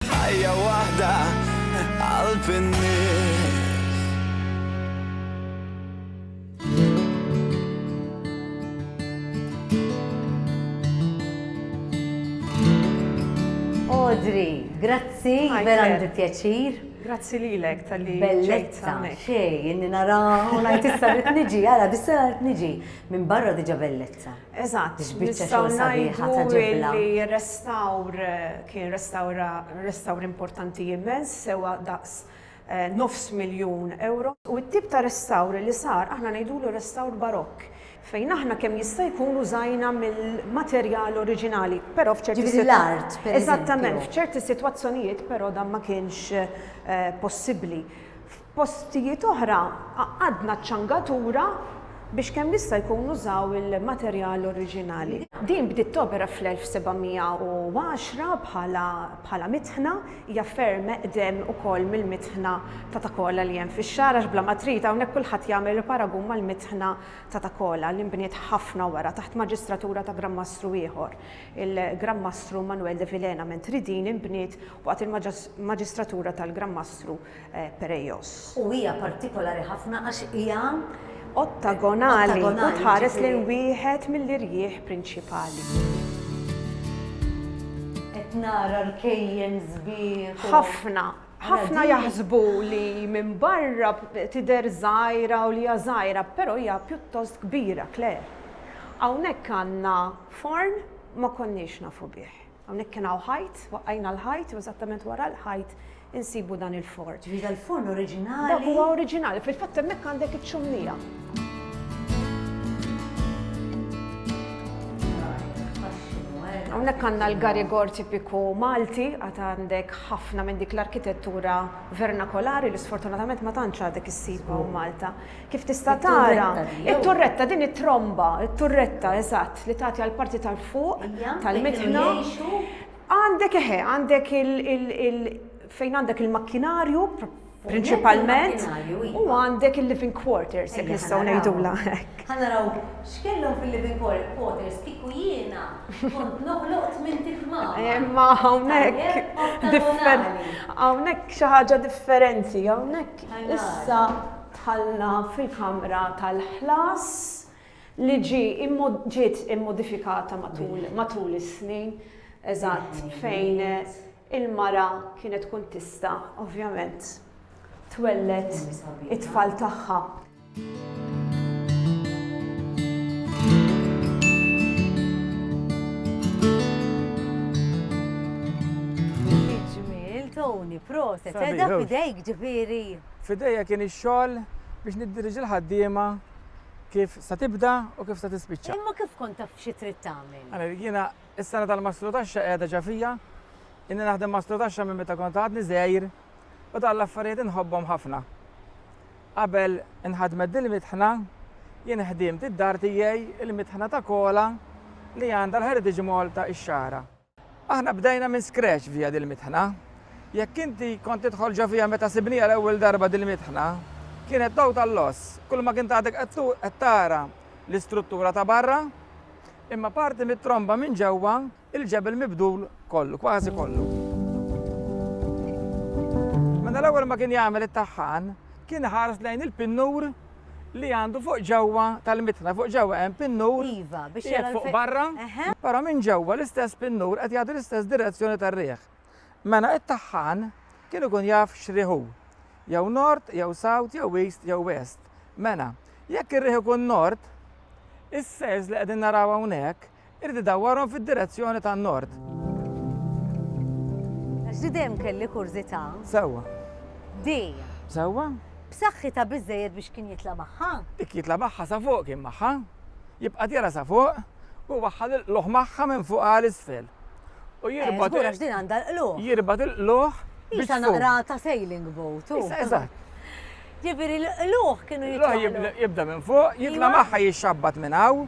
Ħajja waħda qalb in-nies. Audrey, grazzi, vera għandi pjaċir. Grazzi lilek tal-li Bellezza, xej, inni nara, u najt issa rrit niġi, għara, bissa rrit niġi, minn barra diġa bellezza. Eżatt, nistgħu ngħidu li r-restawr kien restawr importanti immens, sewwa daqs nofs miljun ewro. U t-tip ta' restawr li sar aħna ngħidulu restawr barokk, fejn aħna kemm jista' jkun użajna mill-materjal oriġinali, però f'ċerti sitwazzjonijiet. Jiġifieri l-art, per eżempju. Eżattament, f'ċerti sitwazzjonijiet però dan ma kienx possibbli. F'postijiet oħra għaqqadna ċ-ċangatura biex kemm jista' jkun nużaw il-materjal oriġinali. Din bdiet topera fl-1710 bħala mitħna, hija ferm eqdem ukoll mill-mitħna ta' Takola li hemm fix-xagħar għax bla ma trid hawnhekk kulħadd jagħmel il-paragun mal-mitħna ta' Takola li nbniet ħafna wara taħt maġistratura ta' Gran Mastru ieħor, il-Gran Mastru Manuel de Vilhena mentri din inbniet waqt il-maġistratura tal-Gran Mastru Pereios. U hija partikolari ħafna għax hija. Ottagonali u tħares lejn wieħed mill-irjieħ prinċipali. Qed nara rkejjen sbieħ. Ħafna. Ħafna jaħsbu li minn barra tidher żgħira u li hija żgħira, però hija pjuttost kbira, Claire. Hawnhekk għandna forn ma konniex nafu bih. Hawnhekk kien hawn ħajt, waqqajna l-ħajt u eżattament wara l-ħajt insibu dan il-forn. Ġifieri dal-forn oriġinali. Dak huwa oriġinali, fil-fatt hemmhekk għandek iċ-ċummija. Hawnhekk għandna l-garigor tipiku Malti, għad għandek ħafna minn dik l-arkitettura vernakolari li sfortunatament ma tantx għadek issibha hawn Malta. Kif tista' tara, it-turretta din it-tromba, it-turretta eżatt li tagħti għal parti tal-fuq tal-mitħna. Għandek eħe, għandek il fejn għandek il-makkinarju prinċipalment u għandek il-living quarters jekk nistgħu ngħidulha hekk. Ħanaraw x'kellhom fil-living quarters kieku jiena kont noħloq tmien tifma. Imma hawnhekk hawnhekk xi ħaġa differenti, hawnhekk issa Dħalna fil-kamra tal-ħlas li ġiet immodifikata matul is-snin, eżatt fejn il-mara kienet tkun tista', ovvjament, twelled it-tfal tagħha. Xi ġmiel, Tony, proset! Tedda f'idejk, ġifieri. F'idejja kien ix-xogħol biex niddiriġi l-ħaddiema kif sa tibda u kif sa tispiċċa. Imma kif kont taf xi trid tagħmel? Ara, jiena s-sena tal-mastru taxxa qiegħda ġa fija. Inni naħdem mastru taxxa minn meta kont għadni żgħir u dan l-affarijiet inħobbhom ħafna. Qabel inħadmet din mitħna, jien ħdimt id-dar tiegħi il-mitħna ta' kola li għandha l-Heritage Malta ix-Xagħra. Aħna bdejna minn scratch via dil-mitħna. Jekk inti kont tidħol ġo fiha meta sibniha l-ewwel darba dil-mitħna, kienet total loss. Kulma kint għadek qed tara l-istruttura ta' barra, imma parti mit-tromba minn ġewwa, il-ġebel mibdul kollu, kważi kollu. Meta l-ewwel ma kien jagħmel it-tagħhan, kien iħares lejn il-pinnur li għandu fuq ġewwa tal-mitħla, fuq ġewwa hemm pinnur. Iva, biex jgħid fuq barra. Però minn ġewwa l-istess pinnur qed jagħti l-istess direzzjoni tar-riħ. Mela it-taħħan kien ikun jaf x'riħ hu. Jew nord, jew south, jew east, jew west. Mela, jekk ir-riħ ikun nord, is-sejls li qegħdin naraw hawnhekk Irid idawwarhom fid-direzzjoni tan-Nord. Għax di dejjem kelli kurżità. Sewwa. Di. Sewwa. B'saħħitha biżżejjed biex kien jitla' magħha? Dik jitla' magħha sa fuq kien magħha. Jibqa' tira sa fuq u jwaħħal il-qlugħ magħha minn fuq għal isfel. U jirbot. Eh, żgur għax din għandha l-qlugħ. Jirbot il-qlugħ. Isa naqra ta' sailing boat. Isa, eżatt. Ġifieri l-qlugħ kienu jitla'. L-qlugħ jibda minn fuq, jitla' magħha jixxabbat minn hawn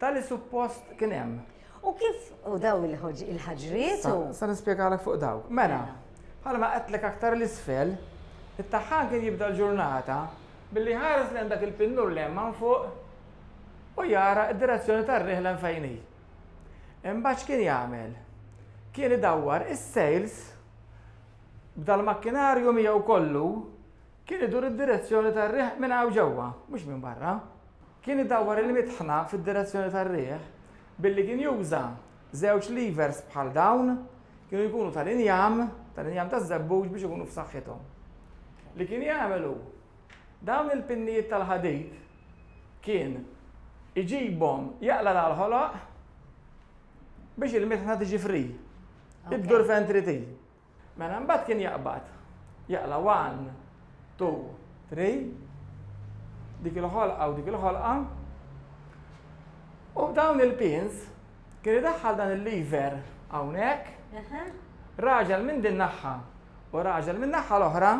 Tali suppost kien hemm. U kif u daw il-ħaġriet? Sa nispjegalek fuq dawk. Mela, mela bħalma qedtlek aktar l-isfel, it-taħħan kien jibda l-ġurnata billi ħares lejn dak il-pinnur li hemm man fuq u jara d-direzzjoni tar-riħ lejn fejn hi. Imbagħad x'kien jagħmel? Kien idawwar is-sales b'dal-makkinarju miegħu kollu kien idur id-direzzjoni tar-riħ minn hawn ġewwa, mhux minn barra. Kien idawwar il-mitħna fid-direzzjoni tar-riħ billi kien juża żewġ levers bħal dawn, kienu jkunu tal-injam, tal-injam taż-żebbuġ biex ikunu f'saħħithom. Li kien jagħmel hu, dawn il-pinnijiet tal-ħadid kien iġibhom jaqla' l-għalħoloq biex il-mitħna tiġi free, iddur fejn trid hi. Mela mbagħad kien jaqbad, jaqla' one, two, three, dik il-ħolqa u dik il-ħolqa, u b'dawn il-pins kien idaħħal dan il-lever hawnhekk, raġel minn din naħħa u raġel min-naħħa l-oħra,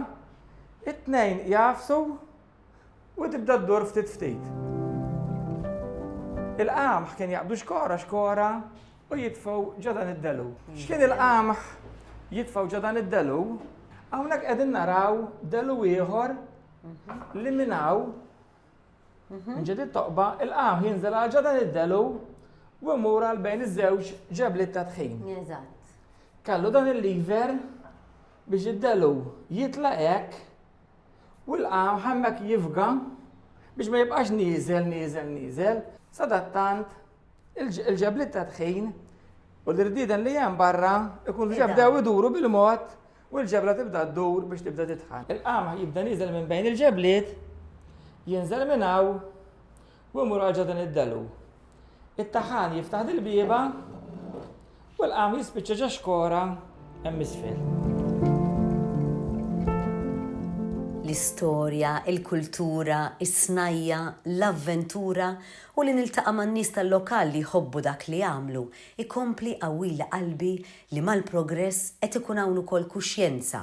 it-tnejn jagħfsu u tibda ddur ftit ftit. Il-qamħ kien jaqbdu xkora xkora u jitfgħu ġo dan id-delu. X'kien il-qamħ jitfgħu ġo dan id-delu? Hawnhekk qegħdin naraw delu ieħor li minn hawn minn ġedid toqba il-qamħ jinżel għal ġo dan id-delu u mmur għal bejn iż-żewġ ġebliet ta' tħin. Eżatt. Kallu dan il-liver biex id-delu jitla hekk U l-qamħ hemmhekk jifga biex ma jibqax nieżel, nieżel, nieżel. Sadattant, il-ġebliet ta' tħin u l-irdieden li hemm barra ikun diġà bdew iduru bil-mod u l-ġebla tibda ddur biex tibda titħan. Il-qamħ jibda nieżel minn bejn il-ġebliet, jinżel minn hawn U jmur għal ġodin id-delu. It-taħan jiftaħ dil-bieba u l-qam jispiċċa ġo xkora hemm isfel. L-istorja, il-kultura, is-snajja, l-avventura u li niltaqa' man-nies tal-lokal li jħobbu dak li jagħmlu jkompli jqawwili qalbi li mal-progress qed ikun hawn ukoll kuxjenza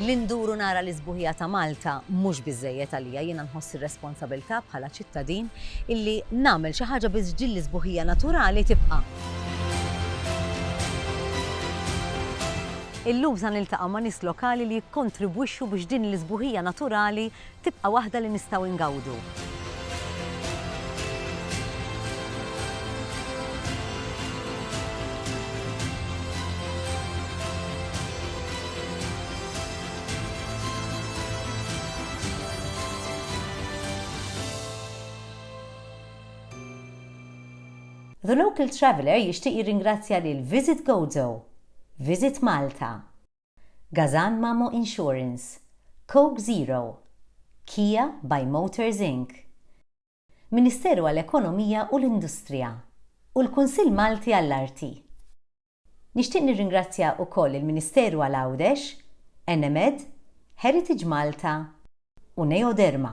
Li ndur u nara l-isbuħija ta' Malta mhux biżżejjed għalija, jiena nħoss ir-responsabilità bħala ċittadin illi nagħmel xi ħaġa biex din l-isbuħija naturali tibqa'. Illum sa niltaqa' ma' nies lokali li jikkontribwixxu biex din l-isbuħija naturali tibqa' waħda li nistgħu ngawdu. The Local Traveller jixtieq jirringrazzja lil Visit Gozo Visit Malta, Gazan Mamo Insurance, Coke Zero, Kia by Motors Inc. Ministeru għall-Ekonomija u l-Industrija u l-Kunsill Malti għall-Arti. Nixtieq nirringrazzja ukoll il-Ministeru għal Għawdex, Enemed, Heritage Malta u Neoderma.